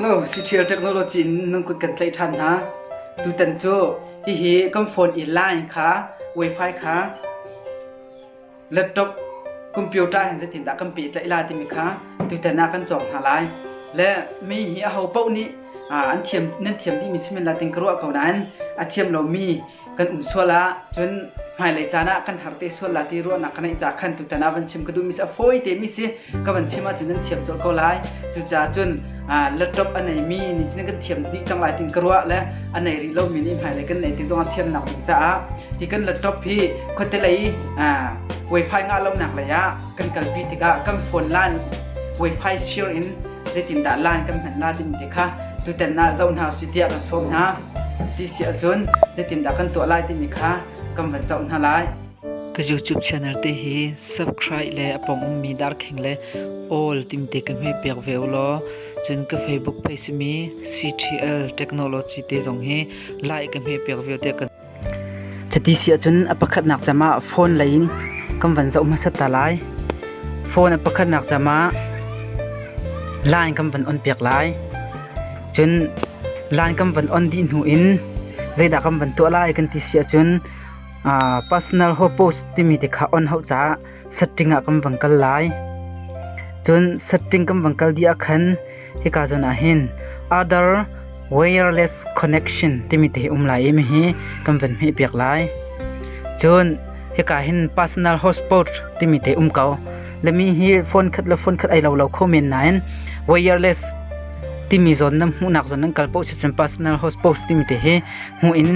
Hello, Ctrial Technology in nan kut kan tlaih ṭhan hna. Tutan cu hihi kan phone i line kha wifi kha laptop computer hen zetin dah kan pe tlaih la timi kha tutan ah kan cawk hna lai. Le mi hi aho paoh nih an thiam nan thiam dihmi si men la ting ka ruah ko nain a thiam lomi kan um sual ah cun hmailei caan ah kan har te sual la ti ruahnak ka neih ca khan tutan ah van chim ka duh mi si a fawi te mi si ka van chim ahcun nan thiam colh ko lai cucaah cun laptop a nei mi nih cun kan thiam dih cang lai tin ka ruah le a nei rih lo mi nih hmailei kan nei tik zong ah thiamnak ding caah hi kan laptop hi khuate lei wifi ngah lonak lei ah kan kalpi tikah kan phone line wifi share in zeitindah line kan hman la timi te kha tutan ah zoh hna u si tiah kan sawm hna Cuti si ahcun zeitindah kan tuah lai timi kha kan van zoh hna lai. Ka YouTube channel te hi subscribe le a pong ummi darkhing le all timte ka hme piak ve u law cun ka Facebook page simi CTL Technology te zong hi like ka hme piak ve te ka Cuti si ahcun a pakhatnak cam ah phone lei in kan van zoh hmasat ta lai. Phone a pakhatnak cam ah line kan van on piak lai. Cun lan kan van on dih hnu in zeidah kan van tuah lai kan ti si ahcun personal hopos timi te kha on hau caah setting ah kan van kal lai. Cun setting kan van kal dih ah khan hika zawn ah hin other wireless connection timi te hi um lai i mihi kan van hmeh piak lai. Cun hika hin personal hotspot timi te um ko. lami hi phone khat le phone khat ai lo lo kho men nain wireless timi zon nan hmuhnak zon nan kal poh si cun personal hotspot timi te hi hmu in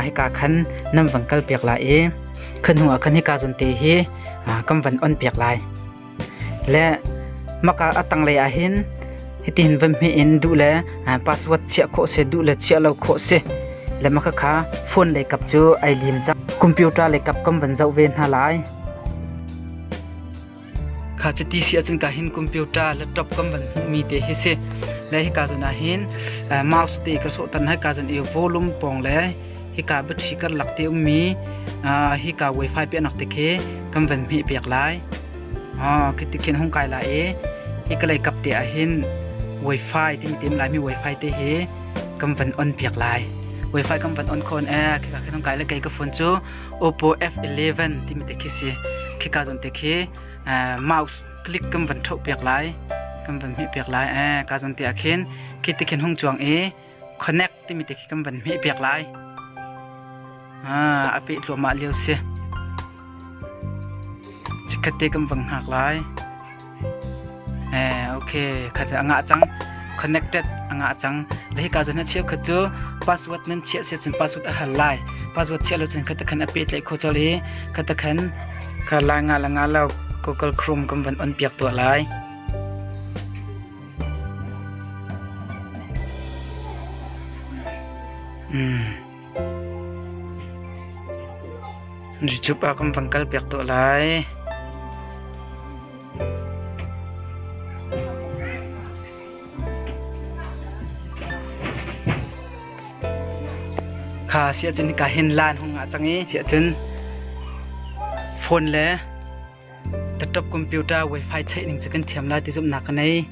hika khan nan van kal piak lai i khan hnu ah khan hika zon te hi kan van on piak lai le maka atang lei ahin hitin van me in du le password chia kho se du le chia lo kho se le maka kha phone le kap chu ai lim chak computer le kap kam van zau ve hna lai Kha chiti si ahcun ka hin computer laptop kan van hmuhmi te hi si. Le hi ka zon ah hin mouse te ka sawh tan hai ka zon i volume pong le hi ka battery kan lak te ummi hi ka wifi pe nak te khi kan van hmeh pek lai. Khi ti khin hung kai la e hi ka lei kap te ah hin wifi tim tim lai mi wifi te hi kan van on pek lai. Wifi kan van on khon e khi ka khin hung kai le kei ka phone cu Oppo F11 timi te khi si. Khika zon te khi mouse click kan van thau piak lai. Kan van hmeh piak lai. Eh, ka zon te akhin. Khi te khin hung chuang i connect timi te khi kan van hmeh piak lai. Ah, ape tluama liau si. Chikhate kan van hak lai. Okay, khat a ngah cang. Connected a ngah cang. Lehi ka zon ha chia khat chu password nan chia se cun password a hal lai. Password chia lo cun khat khan api tlai kho chol hi khat khan ka la nga la nga lo Google Chrome kam van on piak tua lai. Hmm. YouTube ah kan van kalpiak tuah lai. Kha si ahcun ka hin lan hung ah cang i si ahcun phone le laptop computer wifi check ning cu kan thiam lai ti zumhnak ka nei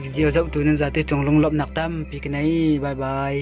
video zoh tu nan zate cung lunglawmhnak tampi ka nei bye bye